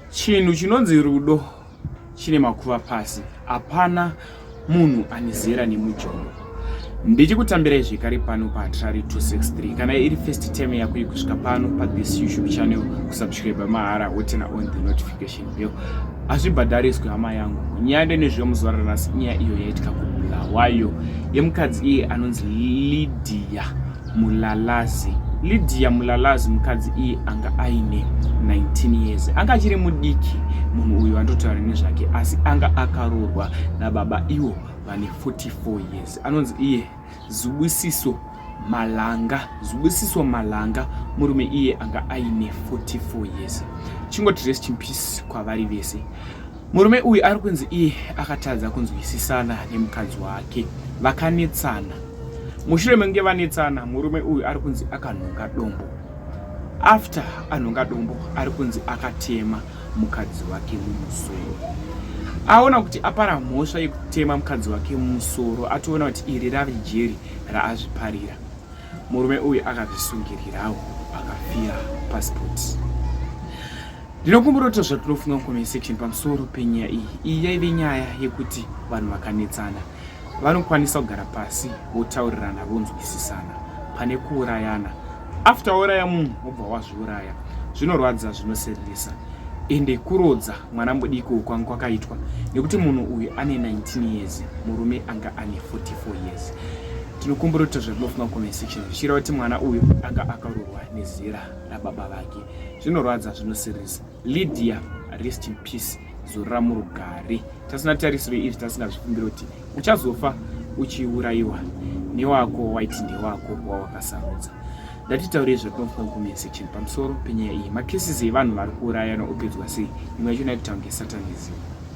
Chinhu chinonzi rudo chine makuva pasi, hapana munhu ane zera nemujolo. Ndichikutambirai zvekare pano paHatirari 263. Kana iri first time yako yekusvika pano pathis YouTube channel, kusubscribe mahara wotena on the notification bell. Hazvibhadhariswe hama yangu. Nyande nezvemuzuva ranhasi inyaya iyo yaitika kubulawayo yemukadzi iye anonzi Lydia. Mulalazi. Lydia Mulalazi mukadzi iye anga aine 19 years. Anga achiri mudiki munhu uyu andotaura nezvake asi anga akaroorwa nababa iwo vane 44 years. Anonzi iye Zubusiso Malanga. Zubusiso Malanga murume iye anga aine 44 years. Chingoti rest in peace kwavari vese. Murume uyu ari kunzi iye akatadza kunzwisisana nemukadzi wake vakanetsana. Mushure menge vanetsana, murume uyu ari kunzi akanhonga dombo. After anhonga dombo, ari kunzi akatema mukadzi wake mumusoro. Aona kuti apara mhosva yekutema mukadzi wake mumusoro, atoona kuti iri rave jeri raazviparira. Murume uyu akazvisungirirawo akafira pasipoti. Ndinokumbira kuti zvatinofunga mucomment section pamusoro penyaya iyi. Iyi yaive nyaya yekuti vanhu vakanetsana vanokwanisa kugara pasi votaurirana vonzwisisana pane kuurayana. After wauraya munhu wobva wazviuraya zvinorwadza zvinosereresa ende kurodza mwana mudiki ukwanga kwakaitwa nekuti munhu uyu ane 19 years murume anga ane 44 years tinokumbira kuti zvatinofunga comment section zvichireva kuti mwana uyu anga akarohwa nezera rababa vake zvinorwadza zvinosirisa lydia rest in peace zorora murugare tasina tarisiro izvi tasingazvikumbira kuti uchazofa uchiurayiwa newako waiti ndewako wawakasarudza ndatitaurei zvatinofunga mucomment section pamusoro penyaya iyi makesisi evanhu vari kuurayana opedzwa sei imwe yacho naititaunge satanism